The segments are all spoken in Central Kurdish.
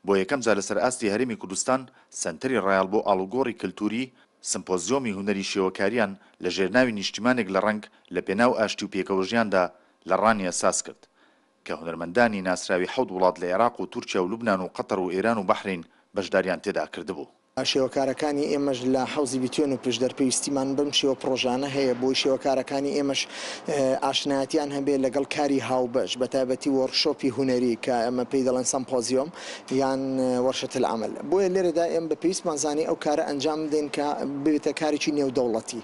بۆ یەکەم جار لەسەر ئاستی هەرێمی کوردستان سەنتەری ڕایەڵ بۆ ئاڵوگۆڕی کەلتووری سمپۆزیۆمی هونەری شێوەکاریان لە ژێرناوی نیشتیمانێک لە ڕەنگ لە پێناو ئاشتی و پێکەوەژیاندا لە ڕانیە ساز کرد کە هونەرمەندانی ناسراوی حەوت وڵات لە ئێراق و تورکیا و لوبنان و قەتەر و ئێران و بەحرەین بەشداریان تێدا کردبوو. شێوەکارەکانی ئێمەش لە حەوزی بیتوێن و پشدەر پێویستیمان بەم شێوە پڕۆژانە هەیە بۆی شێوەکارەکانی ئێمەش ئاشنایەتیان هەبێ لەگەڵ کاری هاوبەش بە تایبەتی وۆرک شۆپی هونەری کە ئێمە پێی دەڵێن سەمپۆزیۆم یان وەرشەت العمل بۆیە لێرەدا ئێمە بە پێویستمان زانی ئەو کارە ئەنجام بدەین کە ببێتە کارێکی نێودەوڵەتی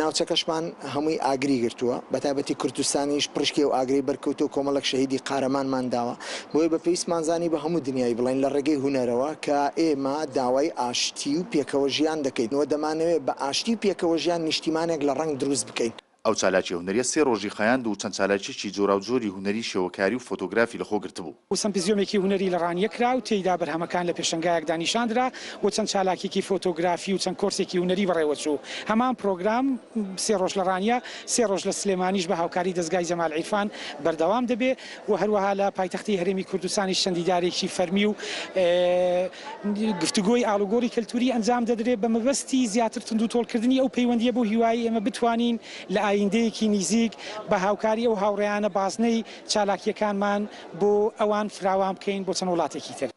ناوچەکەشمان هەمووی ئاگری گرتووە بە تایبەتی کوردستانیش پڕیشکی ئەو ئاگرەی بەرکەوتووە کۆمەڵێک شەهیدی قارەمانمان داوە. بۆیە بە پێویستمان زانی بە هەموو دنیای بڵێین لە ڕێگەی هونەرەوە کە ئێمە داوای ئاشتی و پێکەوە ژیان دەکەین و دەمانەوێت بە ئاشتی و پێکەوە ژیان نیشتیمانێک لە ڕەنگ دروست بکەین. ئەو چالاکیە هونەریە سێ ڕۆژی خایاند و چەند چالاکیەکی جۆراوجۆری هونەری شێوەکاری و فۆتۆگرافی لەخۆ گرتبوو. و سەمپزیۆمێکی هونەری لە ڕانیە کرا و تێیدا بەرهەمەکان لە پێشەنگایەکدا نیشان درا و چەند چالاکیەکی فۆتۆگرافی و چەند کۆرسێکی هونەری بەڕێوە چوو. هەمان پرۆگرام سێ ڕۆژ لە ڕانیە سێ ڕۆژ لە سلێمانیش بە هاوکاری دەزگای جەمال عیرفان بەردەوام دەبێ. و هەروەها لە پایتەختی هەرێمی کوردستانیش چەند دیدارێکی فەرمی و گفتوگۆی ئاڵوگۆڕی کەلتووری ئەنجام دەدرێت بە مەبەستی زیاتر توندوتۆڵکردنی ئەو پەیوەندییە بەو هیوایەی ئێمە بتوانین لە ئاییندەیەکی نیزیک بە هاوکاری ئەو هاوڕێیانە بازنەی چالاکییەکانمان بۆ ئەوان فراوان بکەین بۆ چەند وڵاتێکی تر.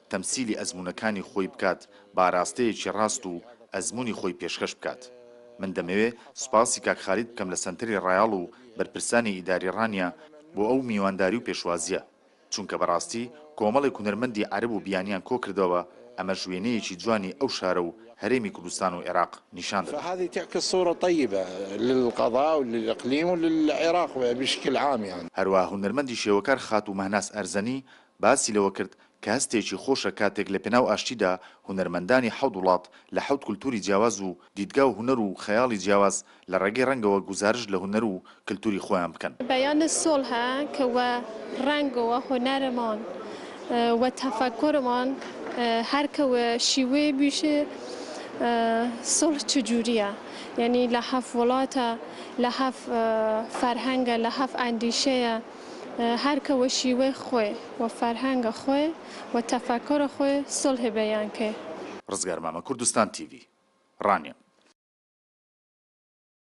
تەمسیلی ئەزموونەکانی خۆی بکات بە ئاراستەیەکی ڕاست و ئەزموونی خۆی پێشکەش بکات من دەمەوێ سوپاسی کاک خالید بکەم لە سەنتەری ڕایاڵ و بەرپرسانی ئیداری ڕانیە بۆ ئەو میوانداری و پێشوازیە چونکە بەڕاستی کۆمەڵێک هونەرمەندی عەرەب و بیانیان کۆ کردەوە ئەمەش وێنەیەکی جوانی ئەو شارە و هەرێمی کوردستان و عێراق نیشان دەدات. فهذه تعكس صورة طيبة للقضاء وللاقليم وللعراق بشكل عام يعني. هەروا هونەرمەندی شێوەکار خاتوو مەهناز ئەرزەنی باسی لەوە کرد کە هەستێکی خۆشە کاتێک لە پێناو ئاشتیدا هونەرمەندانی حەوت وڵات لە حەوت کولتووری جیاواز و دیدگا و هونەر و خەیاڵی جیاواز لە ڕێگەی ڕەنگەوە گوزارشت لە هونەر و کلتووری خۆیان بکەن. بیان سوڵح کە وە ڕەنگ و وە هونەرمان و تەفەکورمان هەر کە وە شیوەیێ بویشێ سوڵح چجووریە یانی لە هەف وڵاتە لە هەف فەرهەنگە لە هەف ئەندیشەیە، هەر کە وە شیوەی خوێ و فەرهەنگە خوێ و تەفەکورە خوێ سولهی بەیان کەێ. ڕزگار مامە کوردستان تیڤی، ڕانیە.